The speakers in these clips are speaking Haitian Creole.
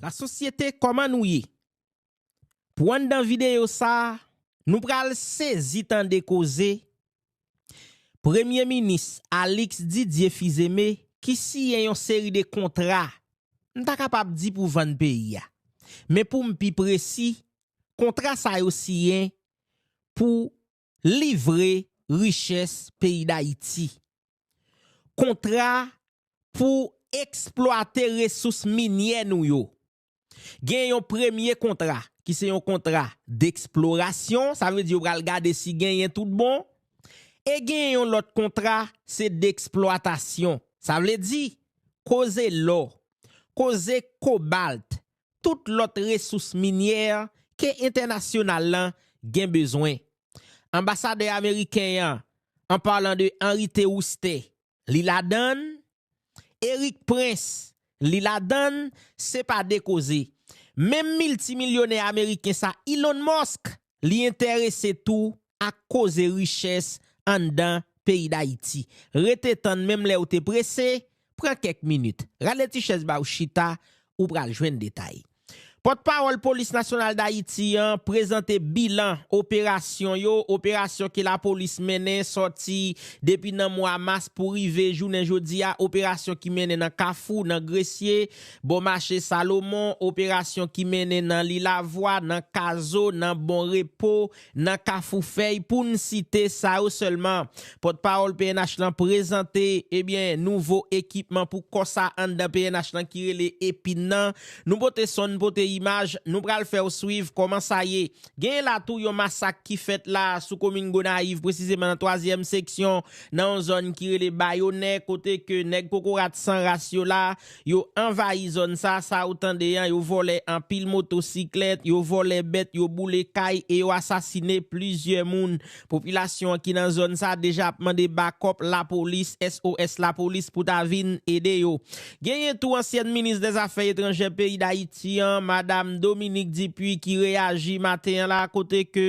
La sosyete kòman nou ye? Pou anndan videyo sa nou pral sezi tande koze Premye minis Alix Didier Fizeme ki siyen yon seri de kontra m ta kapab di pou vann peyi a men pou m pi presi kontra sa yo siyen pou livre richès peyi Dayiti. Kontra pou eksplwate resous minyè nou yo. Gen yon premye kontra ki se yon kontra deksplorasyon, sa vle di yo pral gade si genyen tout bon, e gen yon lòt kontra se deksplwatasyon, sa vle di koze lò, koze kobalt, tout lòt resous minyè ke entènasyonal lan gen bezwen. Anbasadè ameriken an, an palan de Henri Théousté, li ladan l, Erik Prince, li ladan l, se pa de koze. Menm miltimilyonè ameriken sa Elon Musk, li entèrese tou ak koze richès anndan peyi Dayiti. Rete tann menm lè ou te prese, pran kèk minit. Rale ti chèz ba ou chita, ou pral jwenn detay. Pòtpawòl Polis Nasyonal Dayiti an prezante bilan operasyon yo, operasyon ke lapolis mennen sòti depi nan mwa mas pou rive jounen jodi a, operasyon ki mennen nan Kafou, nan Gresye, Bò mache Salomon, operasyon ki mennen nan Lilavwa, nan Kazo, nan Bon Repo, nan Kafou Fèy pou n site sa yo sèlman. Pòtpawòl pnh lan prezante ebyen nouvo ekipman pou kò sa anndan pnh lan ki rele Epin nan. Nou pote son, n pote imaj, nou pral fè w swiv kòman sa ye. Genyen la tou yon masak ki fèt la sou komin Gonayiv presizeman nan twazyèm seksyon nan yon zòn ki rele Bayonè kote ke nèg kokorat san ras yo la Yo anvayi zòn sa, sa ou tande an, yo vòlè anpil moto siklèt, yo vòlè bèt, yo boule kay e yo asasine plizyè moun. Popilasyon an ki nan zòn sa deja ap mande bakòp lapolis, SOS lapolis pou ta vin ede yo. Genyen tou ansyèn minis dè zafè etranjè peyi Dayiti an, madam Dominique Dupuy ki reyaji maten an la kote ke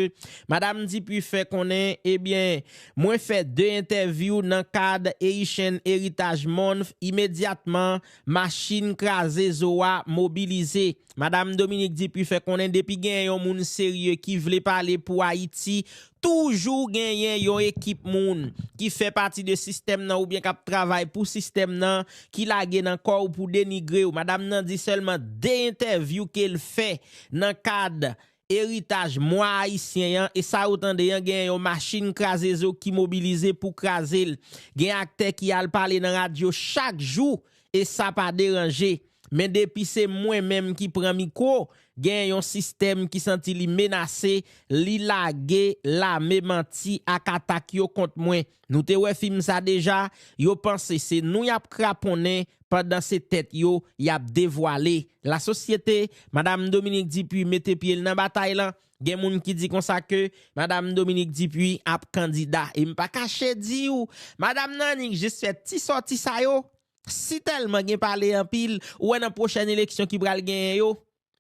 madam Dupuy fè konnen ebyen Mwen fè 2 entèvyou nan kad Haitian Heritage Month imedyatman machin kraze zo a mobilize. Madam Dominique Dupuy fè konnen depi genyen yon moun serye ki vle pale pou Ayiti, toujou genyen yon ekip moun ki fè pati de sistèm nan oubyen k ap travay pou sistèm nan ki lage nan kò w pou denigre w. Madam nan di sèlman 2 entèvyou ke l fè nan kad Eritaj mwa ayisyen an e sa ou tande an genyen yon machin kraze zo ki mobilize pou kraze l. Gen aktè ki al pale nan radyo chak jou e sa pa deranje. Men depi se mwen menm ki pran mikwo, genyen yon sistèm ki santi li menase, li lage lame manti ak atak yo kont mwen. Nou te wè fim sa deja, yo panse se nou yap kraponnen pandan se tèt yo yap devwale. La sosyete, Madam Dominique Dupuy mete pye l nan batay lan, gen moun ki di konsa ke Madam Dominique Dupuy ap kandida. E m pa kache di w, Madam nan annik jis fè ti sòti sa yo, si tèlman gen pale anpil, ou wè nan pwochèn eleksyon ki pral genyen yo,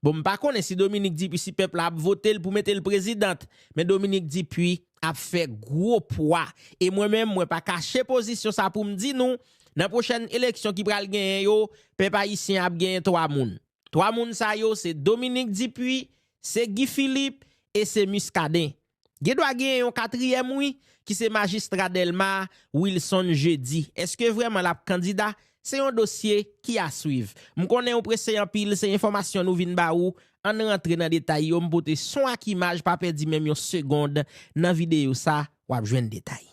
Bon m pa konnen si Dominique Dupuy si pèp la ap vote l pou mete l prezidant men Dominique Dupuy ap fè gwo pwa e mwen menm mwen pa kache pozisyon sa pou m di nou nan pwochèn eleksyon ki pral genyen yo pèp ayisyen ap genyen 3 moun 3 moun sa yo se Dominique Dupuy se Guy Philippe e se Muscadin. Gen dwa genyen yon katriyèm wi ki se majistra Dèlma a, Wilson Jeudi. Eske vrèman l ap kandida? Se yon dosye ki a swiv. M konnen ou prese anpil, se enfòmasyon nou vin ba ou, an n rantre nan detay yo, m pote son ak imaj pa pèdi menm yon segond nan videyo sa, w ap jwenn detay.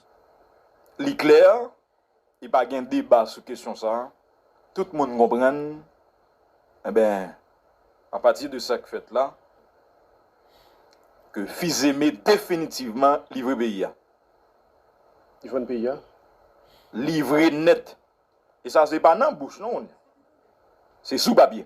Li klè, E pa gen deba sou kesyon sa, tout moun konprann, enben, apati de sa k fèt la, ke Fils-Aimé definitivman livre peyi a. Li vann peyi a? Livre nèt. E sa se pa nan bouch non, se sou papye.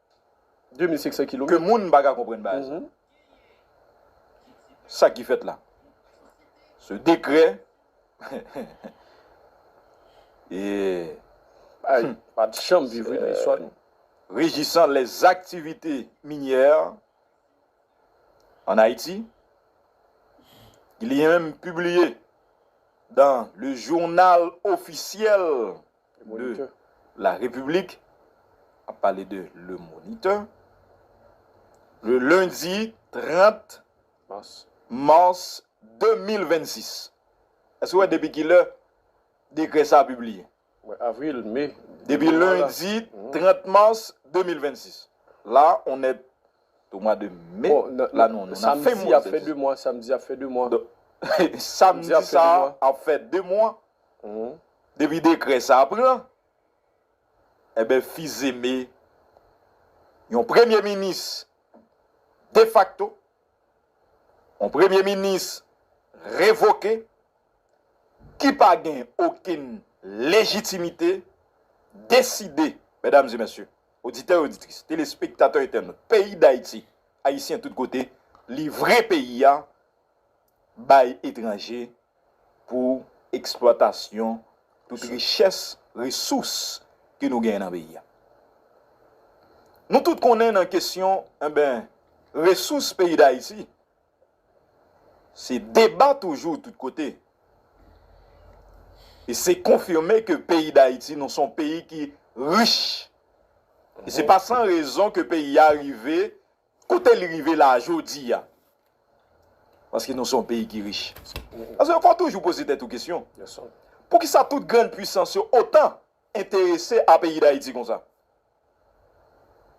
2500 kilomèt. Ke moun pa ka konprann baz. Sa ki fèt la. Se dekrè. Eee. Ay, pa t janm viv wi nan istwa nou. Rejisant les activités minières en Haïti, ki li menm pibliye dan Le Journal Officiel. de la République, ap pale de Le Moniteur, le lundi 30 mars 2026. Èske ou wè depi ki lè dekrè sa a pibliye? Depi lendi 30 mars 2026. La on est au mois de mai, la nou an nan fen mwa. Donk, samdi sa a ap fè 2 mwa. Depi dekrè sa pran, enben Fils-Aimé, yon premye minis defakto, yon premye minis revoke, ki pa gen okenn lejitimite, deside, medam e mesye, oditè e oditris, telespektatè entènot, peyi Dayiti, Ayisyen tout kote, livre peyi a bay etranje pou eksplwatasyon tout richès, resous ke nou genyen nan peyi a. Nou tout konnen nan kesyon enben resous peyi Dayiti se deba toujou tout kote. E se konfime ke peyi Dayiti nou son peyi ki rich. E se pa san rezon ke peyi a rive Kote li rive la a jodi a? Paske nou se yon peyi ki rich. Paske ou fò toujou poze tèt ou kesyon. Poukisa tout grann pwisans yo otan enterese a peyi Dayiti konsa?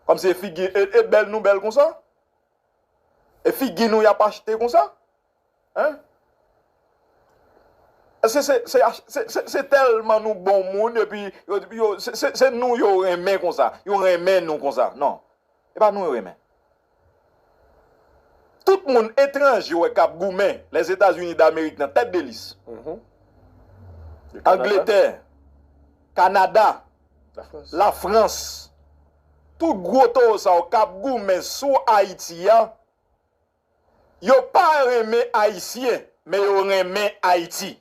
Kòmsi e figi e bèl nou bèl konsa? E figi nou y ap achte konsa? Hein? Eske se se se se telman nou bon moun epi yo yo se se se nou yo renmen konsa, yo renmen nou konsa. Non. E pa nou yo renmen. Tout moun etranje ou wè kap goumen, Lèzetazini Damerik nan tèt de lis. Angletè, Kanada, Lafrans, tout gwo towo sa yo kap goumen sou Ayiti a, Yo pa renmen ayisyen men yo renmen ayiti.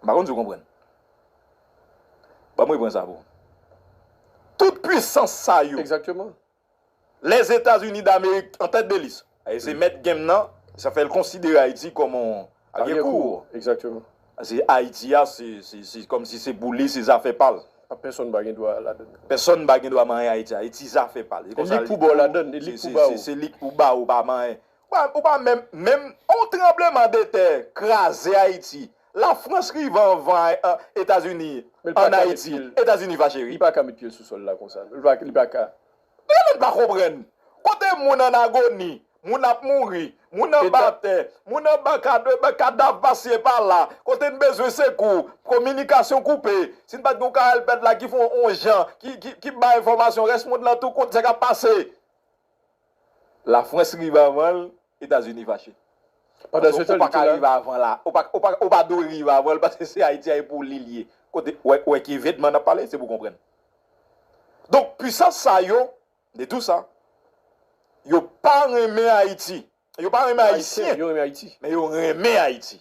M pa konn si w konprann. Ban m reprann sa pou w. Tout pwisans sa yo. Exactement. Lèzetazini damerik an tèt de lis. Se mèt game nan, sa fè l konsidere Ayiti kòm yon. Al gen kou ou. Exactement. Paske Ayiti a se kòm si se pou li, se zafè pa l. A pèsonn pa gen dwa ladann li. Pèsonn pa gen dwa manyen Ayiti. Ayiti zafè pa l. E li k pou ba w ladann l, e li k pou ba ou. Se li k pou ba ou, ou pa manyen. Ou pa menm, menm yon tranbleman de tè kraze Ayiti, la Frans rive anvan Etazini an Ayiti, Etazini fache wi. Li pa ka met pye l sou sòl la konsa non, li pa ka. Bagay mwen pa konprann. Kote moun an agoni, moun ap mouri, moun anba tè, moun anba kadav pasye pala, kote n bezwen sekou, kominikasyon koupe, si n pat gen yon Carel Pèt la ki fè yon jan, ki bay enfòmasyon, rès mond lan tou konn sa k ap pase. Lafrans rive avan l, Etazini fache. Pandan se tan li te la. Ou pa dwe rive avan l paske se Ayiti a e pou li l ye. Kote, ou wè ki evenman n ap pale, se pou w konprann. Donk, puisans sa yo, de tou sa, yo pa renmen Ayiti. Yo pa renmen Ayisyen, men yo renmen Ayiti.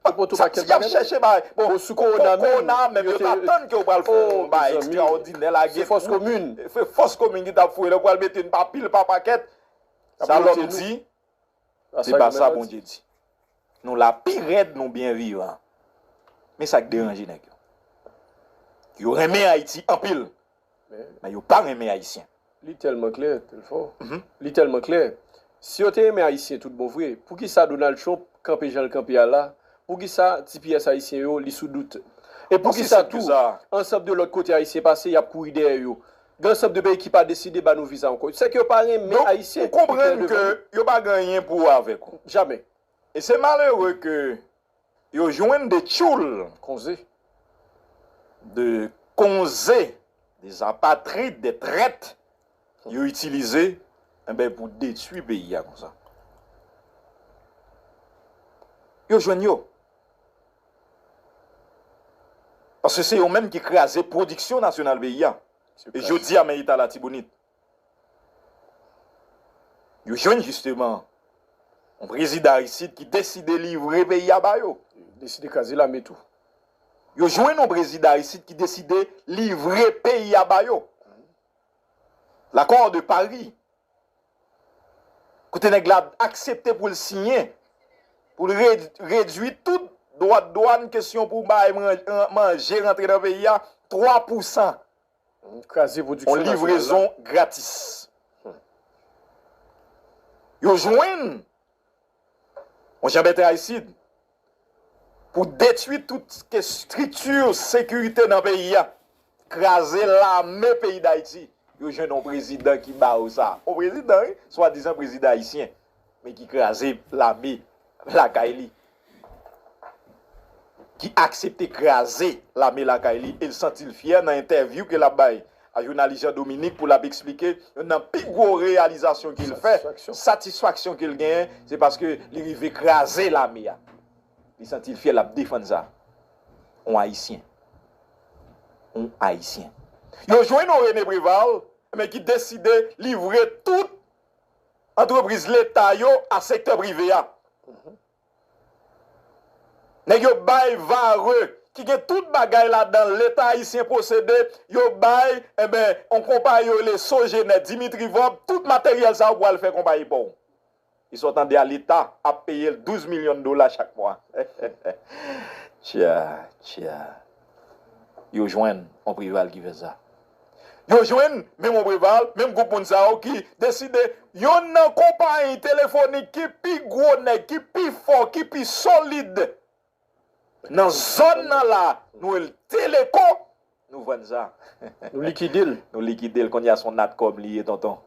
Sa ki ap chèche bagay. Bon sou kowona menm yo ta tann ke ou pral fè yon bagay ekstraòdinè la gen pou. Se fòs komin. Se fòs komin ki ta fouye la ou pral mete n pa pil pa pakèt. Sa lòm di, se pa sa Bondye di. Nou la pi rèd nou byen vivan. Men sa k deranje nèg yo. Yo renmen Ayiti anpil. Men yo pa renmen Ayisyen. Li tèlman klè, Telfò. Li tèlman klè. Si yo te renmen Ayisyen tout bon vre, poukisa Donald Trump kanpe jan l kanpe a la? Poukisa ti pyès Ayisyen yo li sou dout? E poukisa tou, ansanm de lòt kote Ayisyen pase, y ap kouri dèyè yo? Gen ansanm de peyi ki pa deside ba nou viza ankò. Sèke yo pa renmen Ayisyen. Donk, ou konprann ke yo pa gen anyen pou avèk ou. Jamè. E se malere ke Yo jwenn 2 tchoul konze. 2 konze, 2 apatrid, 2 trèt yo itilize enben pou detwi peyi a konsa. Yo jwenn yo. Paske se yo menm ki kraze pwodiksyon nasyonal peyi a. E jodi a men eta Latibonit. Yo jwenn jisteman yon prezidan Aristide ki deside livre peyi a ba yo. Deside kraze lame tou. Yo jwenn yon prezidan Aristide ki deside livre peyi a ba yo. L'accord de Paris kote nèg la aksepte pou l siyen pou l redwi tout dwa dwàn kesyon pou bay manje rantre nan peyi a 3 pousan. On livrezon gratis. Yo jwenn on janbèt Aristide pou detwi tout estrikti sekirite nan peyi a, kraze lame peyi Dayiti. Yo jwenn on prezidan ki ba yo sa. On prezidan wi, swadizan prezidan ayisyen. men ki kraze lame lakay li, ki aksepte kraze lame lakay li e l santi l fyè nan entèvyou ke l ap bay a jounalis Jean Dominique pou l ap eksplike youn nan pi gwo reyalizasyon ke l fè, satisfaksyon ke l genyen, se paske li rive kraze lame a. Li santi l fyè, l ap defann sa. On Ayisyen. On Ayisyen. Yo jwenn on René Préval men ki deside livre tout antrepriz leta yo a sektè prive a. Nèg yo bay vare ki gen tout bagay ladan leta ayisyen posede, yo bay enben yon konpayi yo rele Sogener Dimitri Vorbe tout materyèl sa yo pou al fè konpayi pon. E sa w tande a leta ap peye l 12 milyon dola chak mwa. Tya tya. Yo jwenn yon Preval ki fè sa. Yo jwenn menm Ombre Val, menm gwoup moun sa yo ki deside yonn nan konpayi telefonik ki pi gwo nèg, ki pi fò, ki pi solid nan zòn nan la, nou rele l Teleco, nou vann sa. Nou likide l. Nou likide l. Kounye a se yon natcom li ye tonton.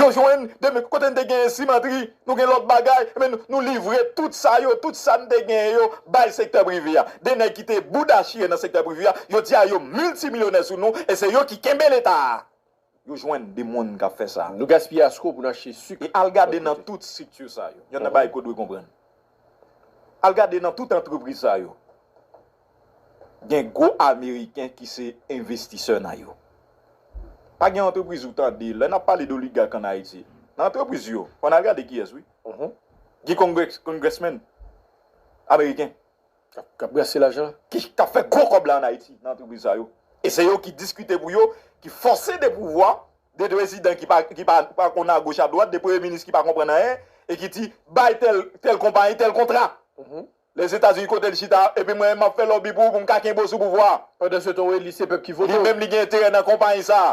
Yo jwenn de men kote n te genyen simatri, nou gen lòt bagay, men nou livre tout sa yo, tout sa n te genyen yo bay sektè prive a. De nèg ki te bouda chire nan sektè prive a, jodi a yo miltimilyonè sou nou e se yo ki kenbe leta a. Yo jwenn de moun k ap fè sa. Nou gaspiye asko pou n achte sik. E al gade nan tout strikti sa yo. Yon nan bagay ke w dwe konprann. Al gade nan tout antrepriz sa yo gen gwo ameriken ki se envestisè nan yo. Pa gen antrepriz ou tande, lè nap pale doligak an Ayiti, nan antrepriz yo, ou konn al gade kiyès wi. Gen kongrèsmen ameriken. Kap brase lajan. Kap fè gwo kòb la an Ayiti nan antrepriz sa yo. E se yo ki diskite pou yo, ki fòse de pouvwa 2 prezidan ki pa konn a goch a dwat, 2 premye minis ki pa konprann anyen e ki di bay tèl konpayi tèl kontra. Lèzetazini kote l chita epi mwen menm m ap fè lòbi pou ou pou m ka kenbe w sou pouvwa a. Pandansetan w eli se pèp ki vote w. Li menm li gen enterè nan konpayi sa a.